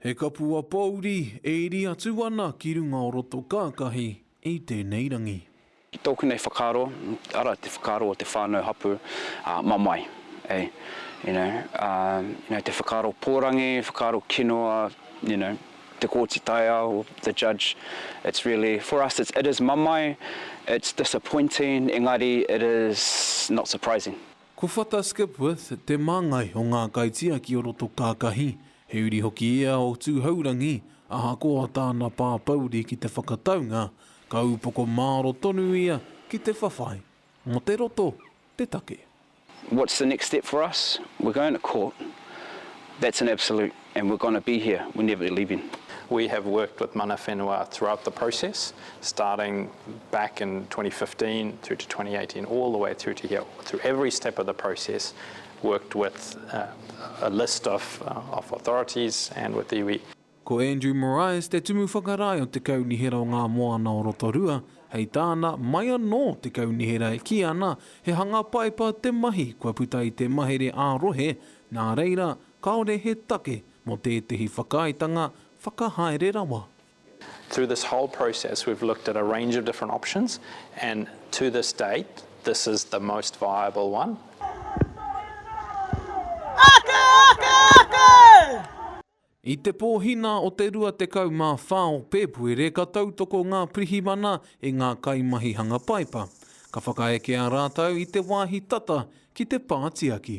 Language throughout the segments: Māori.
He kapua pōuri e iri atu ana ki runga o roto kākahi i tēnei rangi. I tōku nei whakaaro, ara te whakaaro o te whānau hapu, mamae, eh, you know, ah, te whakaaro pōrangi, whakaaro kinoa, you know, te Kōti Taiao, the judge, it's really, for us it's, it is mamae, it's disappointing, engari it is not surprising. Ko Whata Skipworth te māngai o ngā kaitiaki o roto kākahi, he uri hoki ia o Tūhourangi, ahakoa tāna pāpouri ki te whakataunga, ka upoko māro tonu ia ki te whawhai. Mō te roto te take. What's the next step for us? We're going to court. That's an absolute. And we're gonna be here, we're never leaving. We have worked with Mana Whenua throughout the process, starting back in 2015 through to 2018, all the way through to here. Through every step of the process, worked with uh, a list of, uh, of authorities and with iwi. Ko Andrew Moraes te tumu whakarae o te Kaunihera o Ngā Moana o Rotorua, hei tāna, mai anō te Kaunihera e kī ana he hanga paepa te mahi kua puta i te mahere ā-rohe, nā reira, Kāore he take mō tētehi whakaaetanga whakahaere rawa. Through this whole process we've looked at a range of different options and to this date this is the most viable one. I te Pōhina o te 24 o Pēpuere ka tautoko ngā pirihimana i ngā kaimahi hanga paipa. Ka whakaekea rātou i te wāhi tata ki te pā tiaki.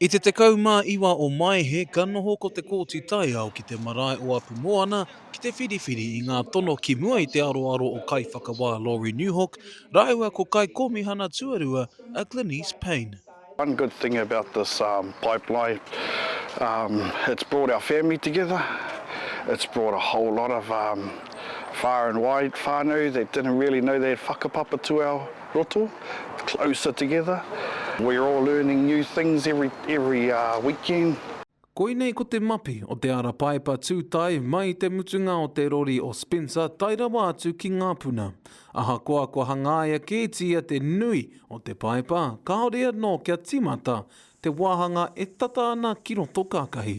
I te 19 o Maehe ka noho ko Te Kooti Taiao ki te marae o Apumoana ki te whiriwhiri i ngā tono ki mua i te aroaro o Kaiwhakawā Laurie Newhawk rāua ko Kaikōmihana Tuarua a Glenice Payne. One good thing about this pipeline it's brought our family together, it's brought a whole lot of far and wide whānau that didn't really know they had whakapapa to our. roto, closer together, we're all learning new things every every weekend. Koinei ko te mapi o te ara paepa tūtae mai i te mutunga o te rori o Spencer tae rawa atu ki ngā puna. Ahakoa kua hangaia kētia te nui o te paepa, kāore anō kia tīmata te wāhanga e tata ana ki roto kākahi.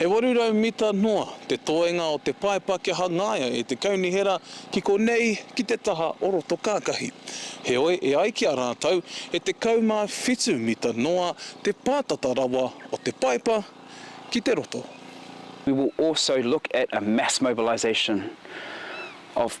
E 800 mita noa te toenga o te paepa kia hangaia e te kaunihera ki konei ki te taha o Rotokākahi. Heoi, e ai ki a rātou, e 17 mita noa te pātata rawa o te paepa ki te roto. We will also look at a mass mobilisation of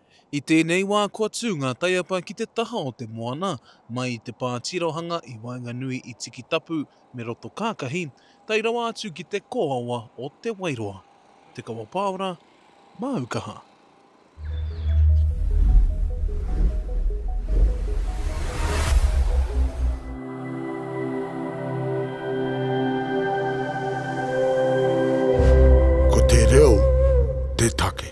I tēnei wā kua tū ngā taiapa ki te taha o te moana, mai i te pā tirohanga i waenganui i Tikitapu me Rotokākahi, tae rawa atu ki te kōawa o Te Wairoa. Te Kawa Pāora, māu kaha. Ko te reo te take.